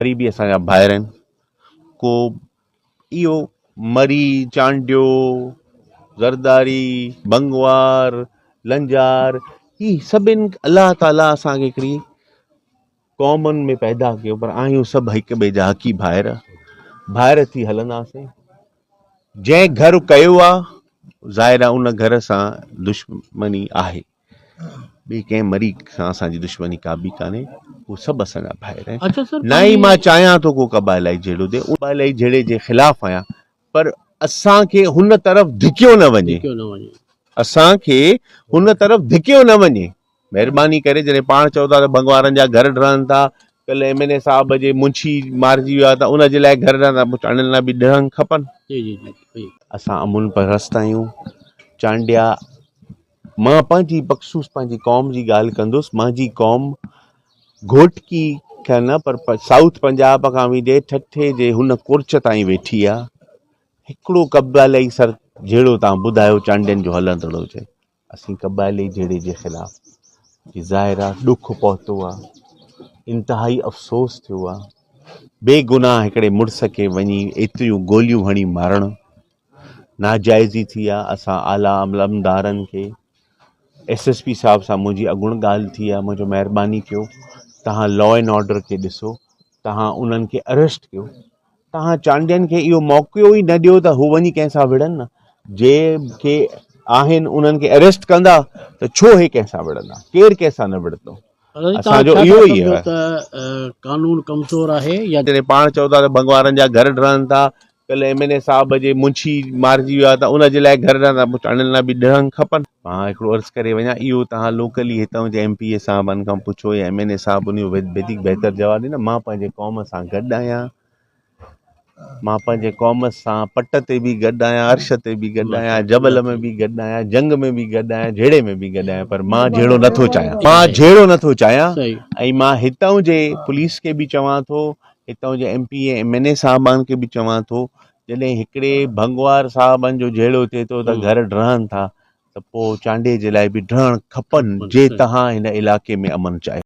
قريبي اسان جا ڀائر آهن ڪو اهو مري چانڊيو زرداري بنگوار لنجار هي سڀن الله تعالي اسان کي هڪڙي قومن ۾ پيدا ڪيو پر آهيون سڀ هڪ ٻئي جا حقي ڀائر ڀائر ٿي هلنداسين جنهن گهر ڪيو آهي ظاهر آهي ان گهر سان دشمني آهي ٻي ڪنهن مريء سان اسان جي دشمني ڪا به ڪانهي هو سڀ اسان جا ڀائر آهن اچھا سر نه ئي مان چاهيان ٿو ڪو قبائلائي جهيڙو ڏي قبائلائي جهيڙي جي خلاف آهيان پر اسان کي هن طرف ڌڪيو نه وڃي ڌڪيو نه وڃي اسان کي هن طرف ڌڪيو نه وڃي مهرباني ڪري جڏهن پاڻ چئو ٿا ته ڀنگ وارن جا گهر ڊهن ٿا ڪل ايم اين اي صاحب جي منشي مارجي ويو آهي ته ان جي لاء گهر ڊهن ٿا چانڊين لاء به ڊهن کپن جي جي جي اسان امن پرست آهيون چانڊيا مان پنهنجي بخصوص پنهنجي قوم جي ڳالهه ڪندس منهنجي قوم گهوٽڪي کان نه پر سائوٿ پنجاب کان ويندي ٺٺي جي هن ڪورچ تائين ويٺي آ هڪڙو قبالئي سر جهيڙو تان ٻڌايو چانڊين جو هلندڙ هجي اسين قبالئي جهيڙي جي خلاف جي ظاهر آ ڏک پهتو آ انتهائي افسوس ٿيو آ بي گناهه هڪڙي مڙس کي وڃي ايتريون گوليون هڻي مارڻ ناجائزي ٿي آ اسان اعليٰ علمدارن کي ايس ايس پي صاحب سان منهنجي اڳوڻ ڳالهه ٿي آ منهنجو مهرباني ڪيو تهان لا اينڊ آرڊر کي ڏسو تهان انهن کي اريسٽ ڪيو تهان چانڊين کي اهو موقعو ئي نه ڏيو ته هو وڃي ڪنهن سان وڙهن نه جي کي آهن انهن کي اريسٽ ڪندا ته ڇو هي ڪنهن سان وڙهندا ڪير ڪنهن سان نه وڙهندو اسانجو اهو ئي آهي قانون ڪمزور آهي يا جڏهن پاڻ چئو ٿا ته ڀڳوارن جا گهر ڊهن ٿا ڪل ايم اين اي صاحب جي منشي مارجي ويو آهي ته ان جي لاء گهر ڏانهن پهچائڻ لاء به ڏهنگ کپن. مان هڪڙو عرض ڪري وڃان اهو توهان لوڪلي هتان جي ايم پي اي صاحبن کان پڇو يا ايم اين اي صاحب ان جو وڌيڪ بهتر جواب ڏيندا مان پنهنجي قوم سان گڏ آهيان مان پنهنجي قوم سان پٽ تي به گڏ آهيان عرش تي به گڏ آهيان جبل ۾ به گڏ آهيان جنگ ۾ به گڏ آهيان جهيڙي ۾ به گڏ آهيان پر مان جهيڙو نٿو چاهيان مان جهيڙو نٿو چاهيان ۽ مان هتان جي پوليس کي به چوان ٿو هتان جي M P ۽ M N A صاحبان کي به چوان ٿو جڏهن هڪڙي ڀنگوار صاحبن جو جهيڙو ٿئي ٿو ته گهر ڊهن ٿا ته پوء چانڊيي جي لاء به ڊهڻ کپن جي تهان هن علائقي ۾ امن چاهيو.